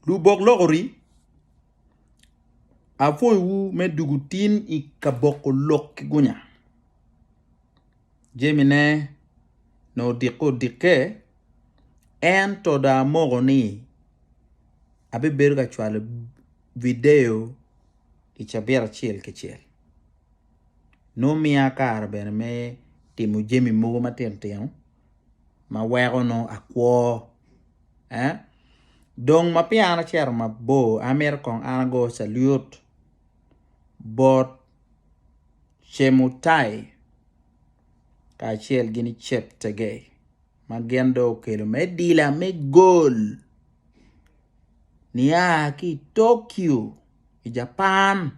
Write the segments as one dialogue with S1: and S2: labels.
S1: Lubok lok ori, apwoyo wu me dugu tin i kaboko lok ki gunya. Jemi ne nongo odikke odikke, en to dong amoko ni abi bedo ka cwalo video i cabit acel ki cel. Nongo miya kare bene me timo jemi mogo matino tino. ma weko nongo akwo ee dong ma peya an acito mabor an myero kong an ago calut bot Cemutai kacel ki Ceptegei ma gin dong okelo me dila me gol nia ki i Tokyo i Japan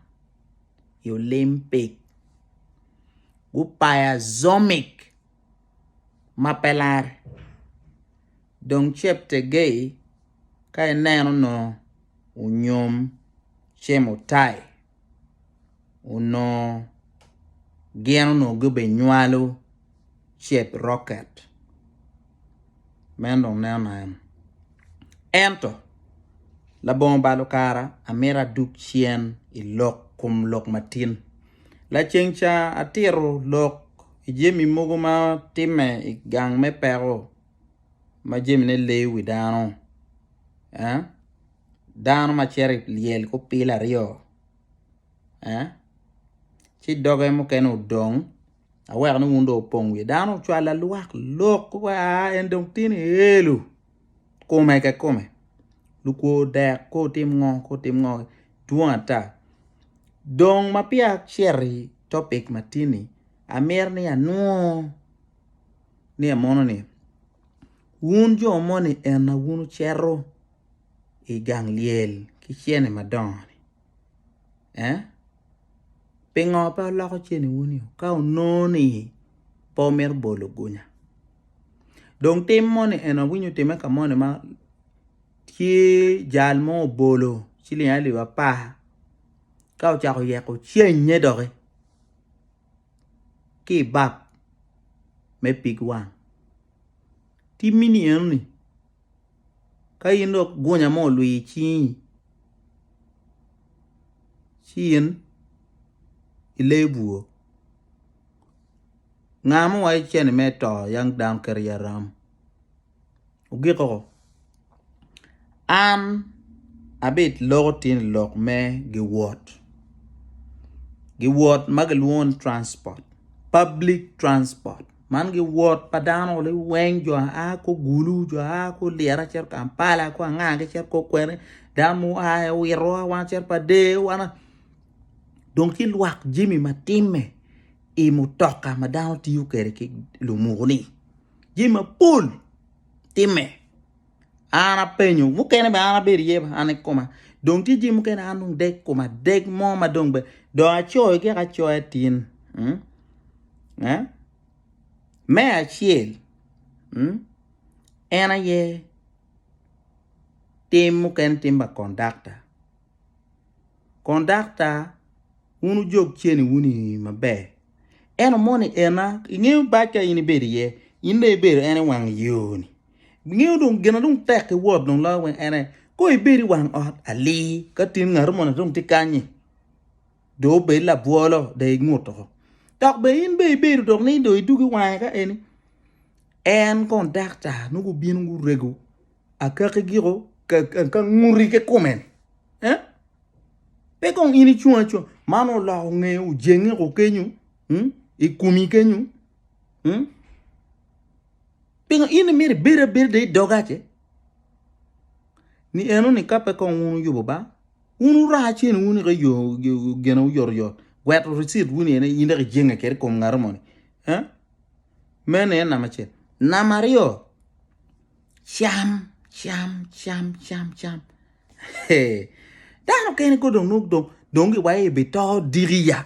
S1: i Olimpik gupayo Azomic. ma pe larre. Dong Cheptegei ka ineno onongo onyom Chemutai onongo gin onongo gubenywalo Cheprocket. Meno dong nen nano. Ento labongo balo kara amito adug cen i lok kom lok matin. Laceng ca atito lok. I jami mogo ma timme i gang me peko ma jamine leyo wi dano, eh, dano ma cito i lyel ki opil aryo, eh, ci doge mukene odong, aweko ni wun dong wupong wiye. Dano ocwalo lwak lok, koko aa en dong tin i elu. kome ka kome lukwo dek ko otim ngo ko otim ngo dwong ata dong ma peya acito i topic ma tye ni amito ni anur ni amono ni wun jo moni eni wun wucito i gang lyel ki cene madongo ni. eh pingo pe oloko ceni wun yo ka onongo ni pe omito bolo gunya dong tim moni en awinyo otime ka moni ma tye jal mo obolo ciling alip apar ka ocako yeko cennye doki ki i bap me pig wang timmi ni eno ni Ka in dok gunya mo olwii i cingi ci in ilee bwur. Nga ma owaco ce ni mere to yang dano kit i aram? Ogiko, An abiloko tin i lok me giwot, giwot ma gilwongo ni transport, public transport. Man gi wot pa dano ni weng jo aa ko gulu jo aa ko lyeto acito kampala ko anga ki cito ko kwene dano mo aa i owito wa wan cito pa der wana dong ci lwak jami ma timme i mutoka ma dano tiyo kwede ki lumuku ni jami mapol timme an apenyo mukene bene an abedo iye an i koma dong tye jami mukene an dong deg koma deg mo ma dong bene dong acoyo gik acoya tin mm? eh? me acel mm? en aye tim mukene tim pa kondakta kondakta wun ojog ceni wun i maber eno moni ena ingeyo bac ka in ibedo iye in dong ibedo en i wang yoni Bingeyo dong gin ma dong tek ki Wod dong loyo weng en aye. Kong ibed i wang ot alir ka tin ngatu moni dong tye kany-nyi, dong obed labwolo dong ingut oko. Dok bene in bene ibedo dong ni dong idug i wange ka eni, en kong dakta nongo gubino gurego akaki giko ka nguti ki kume-ni. Pe kong in icung acunga, man oloko nge ojengi oko kenyo i komi kenyo. Pingo in imito ibedo abeda i dogace? Ni eno ni ka pe kong wun uyubo ba, wun wuraka cen wun ika yo gene uyot oyot, gweto receipt wuni ene in dok ijenge kede kom ngaro moni. Eh? Meno en nama acel. Nama aryo, cam, cam, cam, cam, cam. Dano kene ko dong nuk dong dong giwayo ibi to dikiya.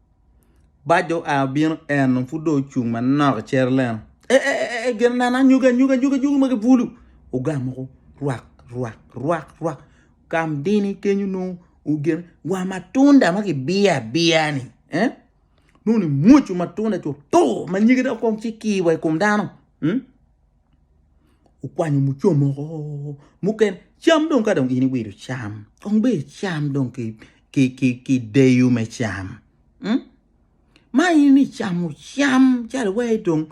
S1: Bac dong oa obino en dong pud dong ocung manok i Jerucalem. E, e, e, e, gin nano anyogi anyogi anyogi anyogi ma gibulu. Ogamo ko rwak rwak rwak rwak. Kam dini kenyo nongo ogin wa matunda ma kibiyo abiya-ni. Eh? Nongo ni mwoco matunda co tur ma nyige dong kong ci kii wa i kom dano. Hmm? okwanyo mucomo o mukene cam dong kadong in iwilo cam kong ber icam dong ki deyo me cam ma in icamo cam calo iwero dong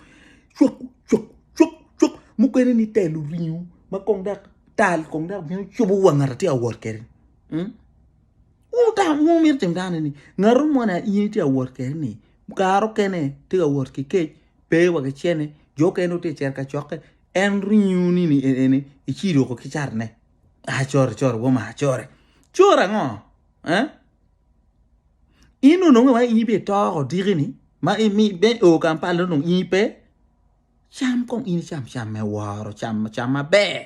S1: cuk cuk cuk cuk mukene ni telo ringo ma kong dok tal kong dok bino cubo wa ngat atye ka wot kede wungu mito timo dano ni ngatu mo na in itye ka wot kede ni kare okene tye ka wot ki kec Pe wa ki cer ni jo okene dong tye ka cito kacokke, en ringo ni ni en ene icir oko ki car ne. Ah core core woma core. Core ango? Eh? In onongo wa in be toko diki ni ma in mi be o kampal no nong in pe cham kong in cham cham me woro cham cham maber.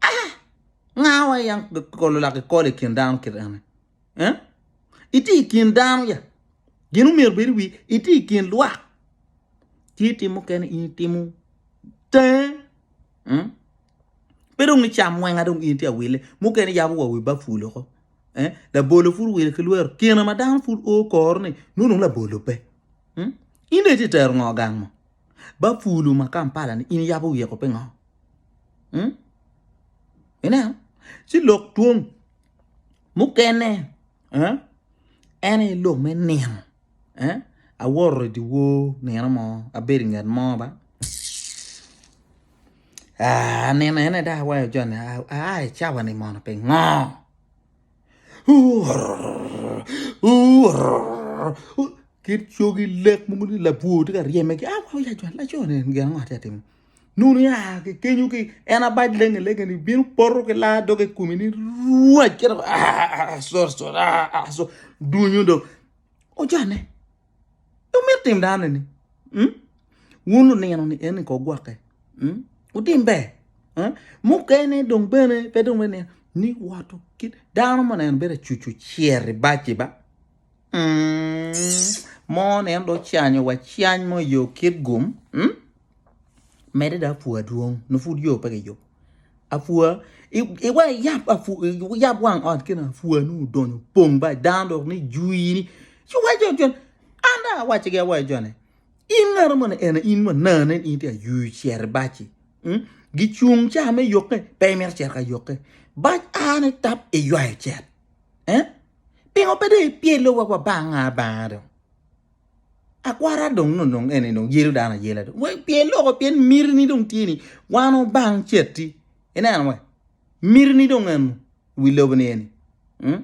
S1: Ah! Nga wa yam kolo lak ikolo i kin dano kit eni? Eh? Itye i kin dano ya. Gin omyero bedi wi itye i kin lwak. Tye tim mukene in itimo tenge. Hmm? Pe dong icam mwenga dong in tye awile. Mukene yabo wa wi baful oko. Eh? Labolo pud wile ki lwero. Kine ma dano pud o koro ni nunu labolo pe. Hmm? In dong itye tero ngo gang mo? Ba pulu ma Kampala ni in yabo wiye ko pingo? Hmm? Ineno? Ci lok twom mukene eh? en aye lok me nino eh? aworo i diwor nino mo abedo i nget mo ba ah, anino ene dok awayo joni aa i cawa ni mono pingo? kit cogi lek mogo ni labwor tye ka ryeme ki aw ya jwal lacone en gin ango tye ka timme nunu ya ki kenyo ki en abac lenge lenge ni bino poto ki laa doge i kome ni rwac kit ma aa sorry sorry aa sorry dunyo dong ojane. Pe wumit tim dano-ni. Wun lunino-ni en-ni kong wugwokke. Wutim ber. Mukene dong bene pe dong bene ni woto kit dano ma oneno bedo acucu cyer i baci ba. Mo nen do canyo wa cany mo yo kit gum. Medde dong apwa dwong nongo pud yo pe kiyubo apwa iweko iyab wang ot kene apwa nongo odonyo opong bac dano dok ni jwi ni ci waco cen an dong awacigi awaca cone in ngati moni en aye in manaa nen in tye ka ywe ocito i bac-ci gicung ca me yukke pe imito cito ka yukke bac a ni tap iywayo cet pingo pe dong ipyelo wa banga banga dong. Akwara dong nongo dong eni dong yelo dano ayela dong. Wek pien loko pien mitini dong tye ni wan obang cetti. Ineno we? Mitini dong enu wi lobo ni eni. Mm?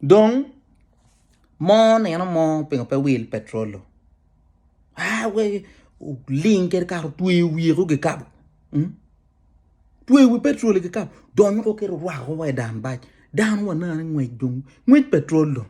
S1: Dong mo neno mo pingo pe wil petrolo. Ah, we ling kede kar tweyo wiye ko gikabo. Mm? Tweyo wi petrol gikabo. Donyo ko kero rwako wa i dan bac. Dan wa nane ngwec dong. Ngwec petrol dong.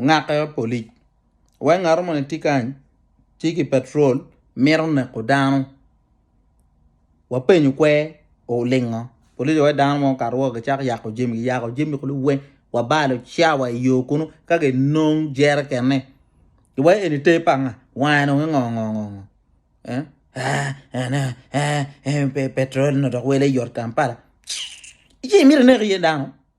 S1: Ngake Apolic, Wai ngato moni tye kany ci ki patrol mito neko dano, wapenyo kwer olingo polic wa wai dano mo okato woko gicako yako jami giyako jami kulu weng wabalo cawa i yo kunu ka ginong jerekenne gi wai eni ter pa nga wange dong ingo ngo ngo ngo eeh eeh petrol-li onongo dok wele yot Kampala ci imito ineko iye dano.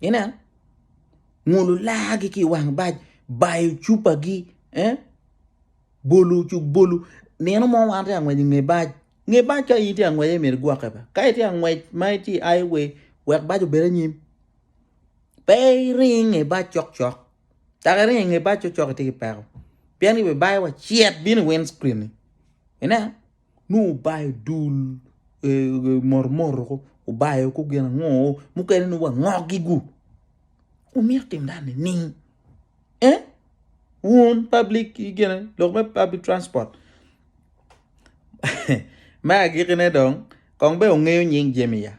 S1: Inen, ngulu laagi ki i wang bac, bayo cupagi, eh? bolo cuk bolo. Nino mo wan tye angwec inge bac, nge bac ka in tye angwec aye myero igwokke ba. Ka itye angwec ma itye i highway, wek bac obed anyim. Pe iring inge bac cok cok, dok iringo inge bac cok cok itye ki peko. Pien gibibaiwa cet bino i wind screen-ni. Inen? nongo obayo dul motomoto obayo ko gin ango mukene nongo wa ngogi gu wumito timo dano nining eh wun public gine lok me public transport me agikine dong kong be wungeyo nying jami ya.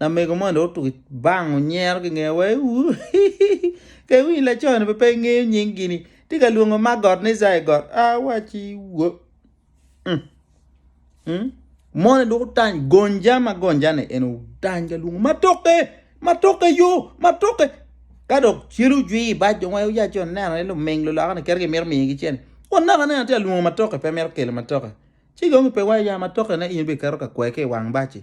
S1: Lamego moni dong otuko bang onyero ki nge wa ewuu hihihi ka iwinyo laconi pe ingeyo nying gini tye ka lwongo magot ni zaigot awaci woo moni dong otany gonja ma gonja ni en otany ka lwongo matoke matoke yo matoke ka dok celu jwi ibac dong wa iwinyo laconi neno ni luming luloka ni kit kimito miyo gi cene kun naka ni atye ka lwongo matoke pe mito kelo matoke ci dong kipe wa ya matoke ne in bene iketo ka kwai ki iwang baci.